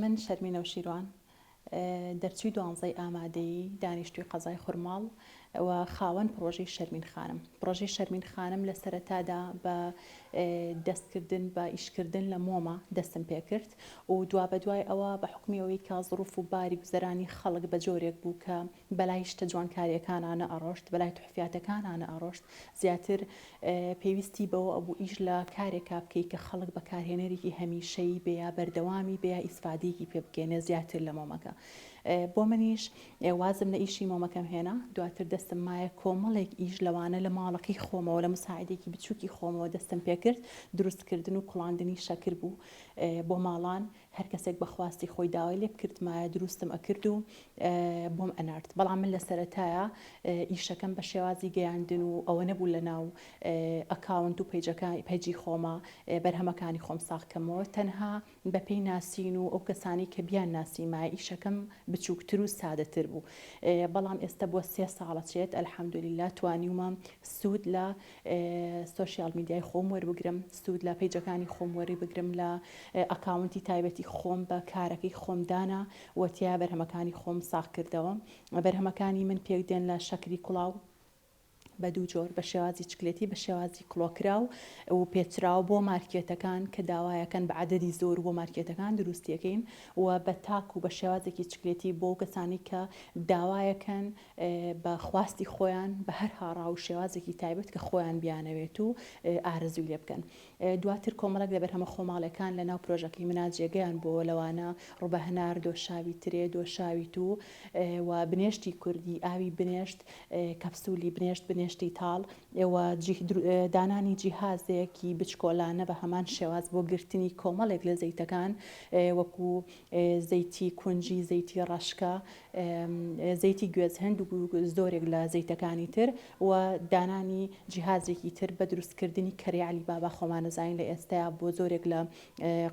من شەرمی نەوشیروان دەرچوی دوانزەی ئامادەیی دانیشتوی قەزای خورماڵ و خاوەن پڕۆژەی شەرمین خانم. پڕۆژەی شەرمین خانم لە سەرەتادا بە دەستکردن بە ئیشکردن لە مۆمە دەستم پێ کرد و دوابەدوای ئەوە بە حوکمی ئەوەی کە زڕوف و باری گوزەرانی خەڵک بە جۆرێک بوو کە بەلای شتە جوانکارییەکانا نەئەڕۆشت، بەلای تحفیاتەکانا نەئەڕۆشت، زیاتر پێویستی بەوە ئەبوو ئیش لە کارێکا بکەی کە خەڵک بەکارهێنەرێکی هەمیشەیی بێ یا بەردەوامی بێ یا ئیسفادەیەکی پێ بکەێنێ زیاتر لە مۆمەکە. بۆ منیش ئێ وازم لە ئیشی مۆمەکەم هێنا، دواتر دەستم مایە کۆمەڵێک ئیش لەوانە لە ماڵەکەی خۆمەوە لە موساعیدێکی بچووکی خۆمەوە دەستم پێ کرد، دروستکردن و کوڵاندنی شەکر بوو بۆ ماڵان، هەر کەسێک بە خواستی خۆی داوای لێ بکردمایە دروستم ئەکرد و بۆم ئەنارد، بەڵام من لە سەرەتایا ئیشەکەم بە شێوازی گەیاندن و ئەوە نەبوو لە ناو ئەکاونت و پەیجەکە پەیجی خۆما بەرهەمەکانی خۆم ساغ کەمەوە، تەنها بەپێی ناسین و ئەو کەسانەی کە بیانناسیمایە ئیشەکەم بچووکتر و سادەتر بوو بەڵام ئێستە بووە سێ ساڵە چێت الحمدللە توانیومە سوود لە سۆشیال میدیای خۆم وەربگرم سوود لە پەیجەکانی خۆم وەریبگرم لە ئەکاونتی تایبەتی خۆم بە کارەکەی خۆم دانا و تیا بەرهەمەکانی خۆم ساغکردەوە بەرهەمەکانی من پێکدێن لە شەکری کوڵاو بە دوو جۆر، بە شێوازی چکلێتی، بە شێوازی کڵۆکراو و پێچراو بۆ مارکێتەکان کە داوایەکەن بە عەدەدی زۆر بۆ مارکێتەکان دروستیەکەین و بە تاک و بە شێوازێکی چکلێتی بۆ کەسانی کە داوایەکەن بە خواستی خۆیان بە هەر هاڕا و شێوازێکی تایبەت کە خۆیان بیانەوێت و ئارەزووی لێ بکەن. دواتر کۆمەڵێک لە بەرهەمە خۆماڵیەکان لە ناو پرۆژەکەی منا جێگەیان بۆوە لەوانە، ڕوبە هەنار، دۆشاوی ترێ، دۆشاوی توو و بنێشتی کوردی، ئاوی بنێشت، کەپسولی بنێشت، بنێشتی تاڵ و دانانی جیهازێکی بچکۆلانە بە هەمان شێواز بۆ گرتنی کۆمەڵێک لە زەیتەکان وەکو زەیتی کونجی، زەیتی ڕەشکە، زەیتی گوێز هەند و زۆرێک لە زەیتەکانی تر و دانانی جیهازێکی تر بە دروست کردنی کەرەی عەلی بابا خۆمان ئەزانین لە ئێستەیا بۆ زۆرێک لە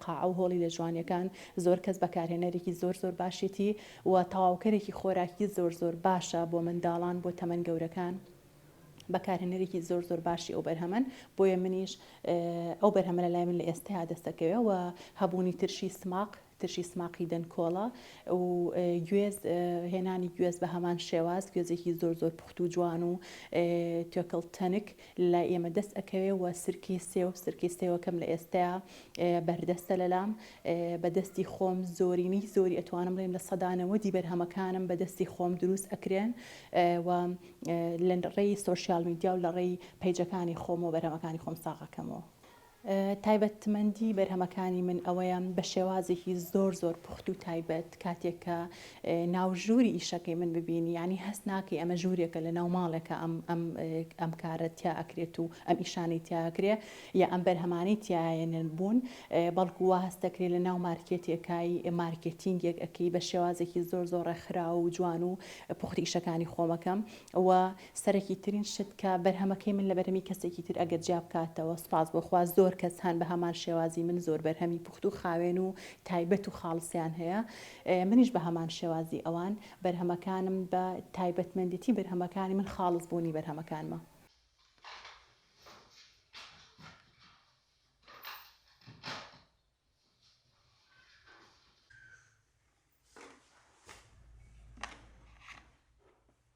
قاعە و هۆڵی لە جوانیەکان زۆر کەس بەکارهێنەرێکی زۆر زۆر باشێتی و تەواوکەرێکی خۆراکی زۆر زۆر باشە بۆ منداڵان بۆ تەمەن گەورەکان بەکارهێنەرێکی زۆر زۆر باشی ئەو بەرهەمەن بۆیە منیش ئەو بەرهەمە لە لای من لە ئێستەیا دەستەکەوێ و هەبوونی ترشی سماق ترشی سماقی دەنکۆڵە و گوێز هێنانی گوێز بە هەمان شێواز گوێزێکی زۆر زۆر پوخت و جوان و توێکڵ تەنک لای ئێمە دەست ئەکەوێ و سرکەی سێو سرکەی سێوەکەم لە ئێستەیا بەردەستە لەلام بە دەستی خۆم زۆرینەی زۆری ئەتوانم بڵێم لە سەدا نەوەدی بەرهەمەکانم بە دەستی خۆم دروست ئەکرێن و لە ڕێی سۆشیال میدیا و لە ڕێی پەیجەکانی خۆم و بەرهەمەکانی خۆم ساغ ئەکەمەوە. تایبەتمەندی بەرهەمەکانی من ئەوەیە بە شێوازێکی زۆر زۆر پوخت و تایبەت کاتێک کە ناو ژووری ئیشەکەی من ببینی ینی هەست ناکەی ئەمە ژوورێکە لە ناو ماڵێکە ئەم ئەم ئەم کارە تیا ئەکرێت و ئەم ئیشانەی تیاکرێ یا ئەم بەرهەمانی تیاەنن بوون بەڵکو وا هەستەکرێت لە ناو مارکێتێکای مارکێتینگێک ئەەکەی بە شێوازێکی زۆر زۆر ڕێکخراو و جوان و پوختی ئیشەکانی خۆمەکەم و سەرەکی ترین شت کە بەرهەمەکەی من لە بەرهەمی کەسێکی تر ئەگەر جیا بکاتەوە سوپاس بۆ خوا زۆر کەس هەن بە هەمان شێوازی من زۆر بەرهەمی پوخت و خاوێن و تایبەت و خاڵسیان هەیە منیش بە هەمان شێوازی ئەوان بەرهەمەکانم بە تایبەتمەندێتی بەرهەمەکانی من خاڵس بوونی بەرهەمەکانمە.